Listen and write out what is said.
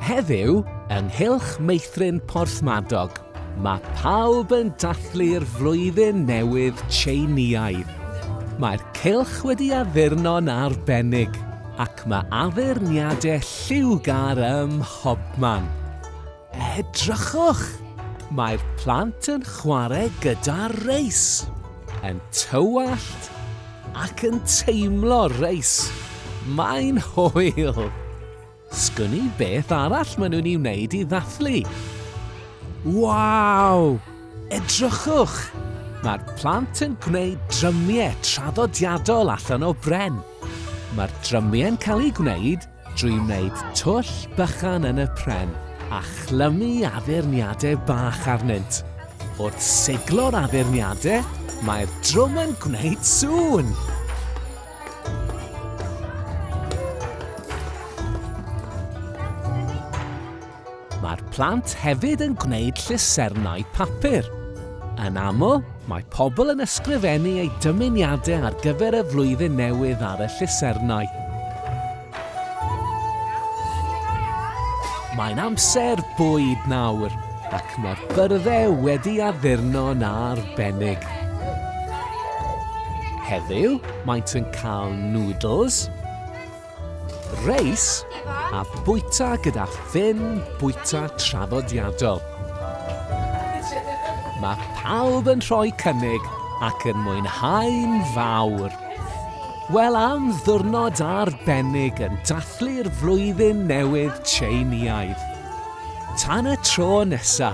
Heddiw, ynghylch Meithrin Porthmadog, mae pawb yn dathlu'r Flwyddyn Newydd Tsieineaidd. Mae'r cylch wedi addurno'n arbennig ac mae addurniadau lliwgar ym mhobman. Edrychwch! Mae'r plant yn chwarae gyda'r reis, yn tywallt ac yn teimlo reis. Mae'n hwyl! Sgwn i beth arall maen nhw'n ei wneud i ddathlu. Waw! Edrychwch! Mae'r plant yn gwneud drymiau traddodiadol allan o bren. Mae'r drymiau'n cael eu gwneud drwy wneud twll bychan yn y pren a chlymu addurniadau bach arnynt. Wrth siglo'r addurniadau, mae'r drwm yn gwneud sŵn! Mae'r plant hefyd yn gwneud llusernau papur. Yn aml, mae pobl yn ysgrifennu eu dymuniadau ar gyfer y flwyddyn newydd ar y llusernau. Mae'n amser bwyd nawr, ac mae'r byrddau wedi addurno'n arbennig. Heddiw, maent yn cael noodles, Reis a bwyta gyda ffyn bwyta traddodiadol. Mae pawb yn rhoi cynnig ac yn mwynhau'n fawr. Wel am ddiwrnod arbennig yn dathlu'r flwyddyn newydd Tsieineaidd. Tan y tro nesa!